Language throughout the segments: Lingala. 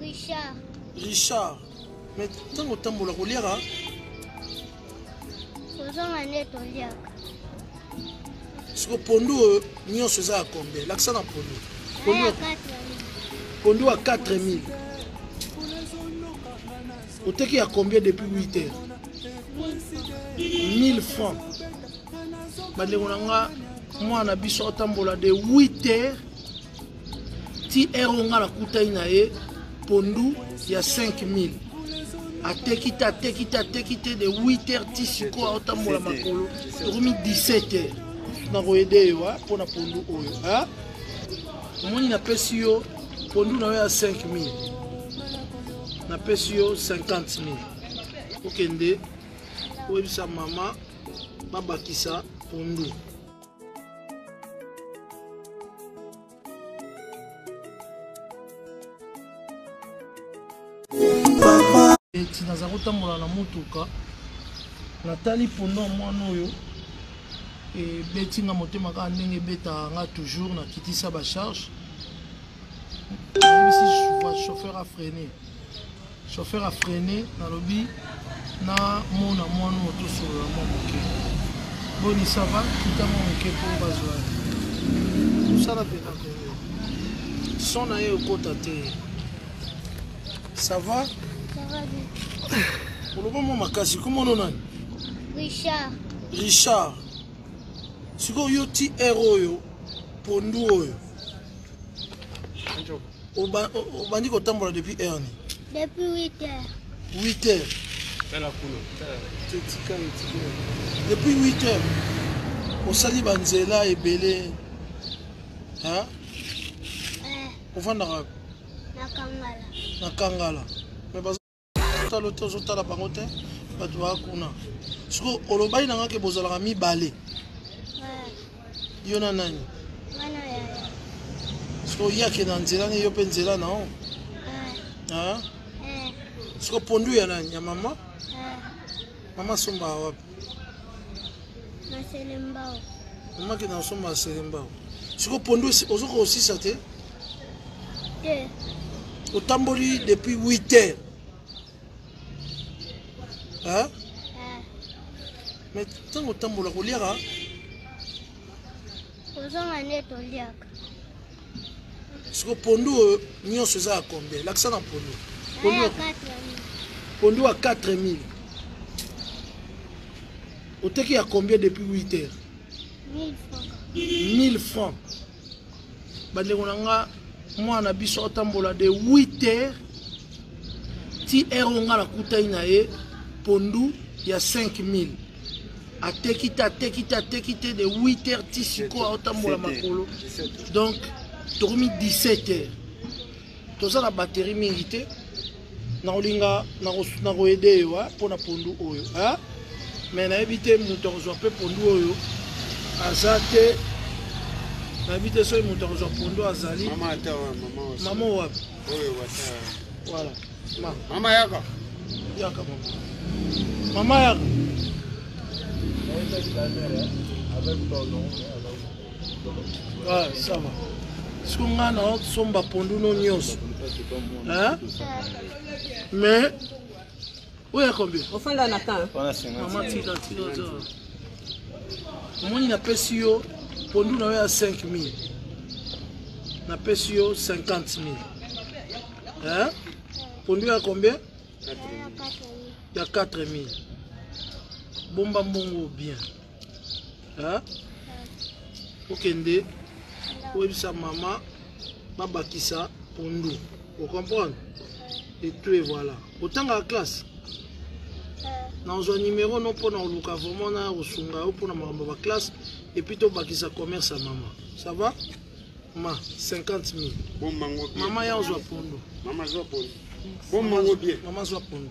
Richard. Richard. Mais ntango otambola koliaka kozonga nde toliaka siko pondu oyo nyonso eza ya kombe lakisa na pondu pondu ya 4000 oteki ya combien depuis 8 heures 1000 francs bandeko na nga mwana na biso atambola de 8 heures ti heure oyo nga nakutani na ye pondu ya 5000 ateki te ateki te ateki te de 8 heures ti sikoyo aotambola makolo ekomi 17 heures nakoyede yo mpo na pondu oyo omoni napesi yo pondu na yo ya 5000 napesi yo 50 000 okende oyebisa mama babakisa pondu eti naza kotambola na motuka natali pondo ya mwana oyo ebeti nga motema kaka ndenge ebetaka nga toujours nakitisa bacharge nayebisi chauffeur afrene Chauffeur a freine nalobi na mona mwana oyo tosolola mwa moke boni sava kita mwa moke mpo bazwa mosala mpe na kongo son na ye okota te sava oloba mwa makasi komono nani richard richard sikoyo yo ti r oyo pondu oyo obandi kotambola depuis heure ni depuis 8 heures 8 heures tala kuna tetika etike depuis 8 heures osali banzela ebele hein eh. ofandaka na kangala na kangala talo te ozotala bango te bato baa kuna siko olobaki nanga ke bozalaka mibale yo na nani siko ye akende na nzela ne yo mpe nzela na o siko pondu ya nani ya mama mama asombaka wapi mama akende na osomba selembao siko pondu ozoka osisa te te otamboli depuis 8 heures hein? Eh. mais ntango otambola koliaka kozonga nde toliaka siko pondu oyo nyonso eza ya combien lakisa na pondu pondu ya 4000 oteki ya combien depuis 8 heures 1000 francs bandeko na nga mwana na biso atambola de 8 heures ti heure oyo nga nakutani na ye pondu ya 5000 ateki te ateki te ateki te de 8 heures ti sikoyo aotambola makolo donc tokomi 17 heures toza na batterie mingi te nakolinga nakoede yo mpo na pondu oyo me nayebi te moto akozwa mpe pondu oyo aza te nayebi te soki moto akozwa pondu azali mama wapi voilà mama yaka yaka mama mama yaka avec ton nom Ah, ça va. Siko nga na somba pondu no nyonso. Hein? Mais oyo ya combien? Ofanda na kan. Mama tika tika tika. Omoni napesi yo pondu na yo ya 5000. Napesi yo 50000. Hein? Pondu ya combien? Ya 4000. Bomba mbongo bien. hein? okende oyebisa mama babakisa pondu ocomprendre etu evoila otangaka classe nazwa numero no mpona koluka vraiment na kosunga yo mpona makambo ya baklasse epuis tobakisa commerce ya mama ça va ma 50 mille mama ya ozwa pondo mama zwa pondo mama zwa pondo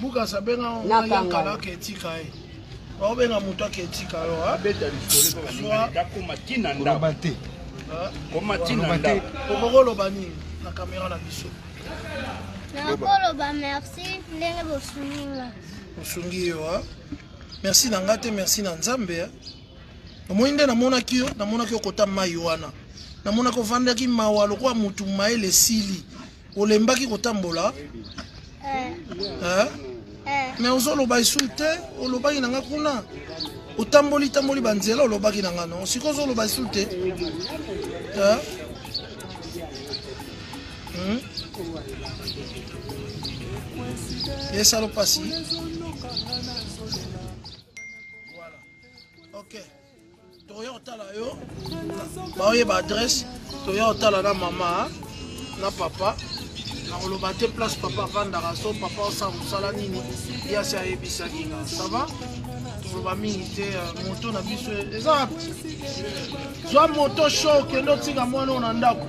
Bukasa benga na kangala ke tika ye. Ba benga muto ke tika yo ha. Beta lisole ba zwa dakoma tina nda. Ba te. Koma tina nda. Okoko loba nini na kamera na biso. nakoloba merci ndenge bosungi nga osungi yo a merci na nga te merci na nzambe a omoni nde namonaki yo namonaki okota mai wana namonaki ovandaki mawa lokola motu mayele esili olembaki kotambola eh. Eh? Eh. mais ozoloba esu te olobaki na nga kuna otamboli tamboli banzela olobaki na nga no sikoyo ozoloba esu te hmm? esalo mpasi toya otala yo baoyeba adresse toya otala na mama na papa nakoloba te place papa avandaka so papa osala mosala nini ye asi ayebisaki nga sava toloba mingi te euh, moto na biso eza zwa moto sho okende otika mwana oyo na ndako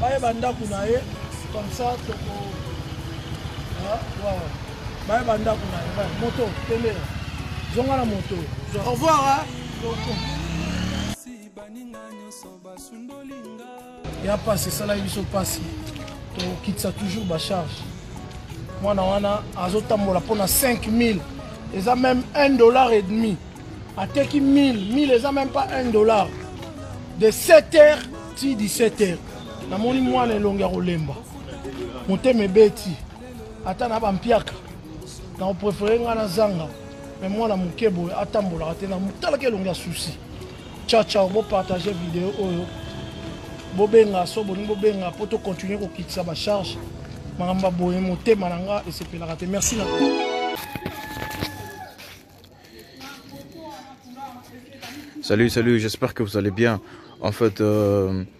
bayeba ndako na ye comme ça toko ah, bayeba ndako na ye moto tende zonga na moto au revoir baninga nyonso basundoli nga ya mpasi esalaki biso mpasi tokitisa toujours bacharge mwana wana azotambola mpo na 5000 eza meme 1 dollar et demi ateki 1000 1000 eza meme pas 1 dollar de 7 heures ti 17 heures namoni mwana elongi ya kolemba motema ebeti ata na bampiaka nakoprefere ngai nazanga me mwana moke boye atambolaka te natalaki elongi ya susi ciao ciao bo partage video oyo bobenga so bolingi bobenga mpo tocontinue kokitisa bacharge makambo baboye motema na nga esepelaka te merci na Salut, salut, j'espère que vous allez bien. En fait, euh,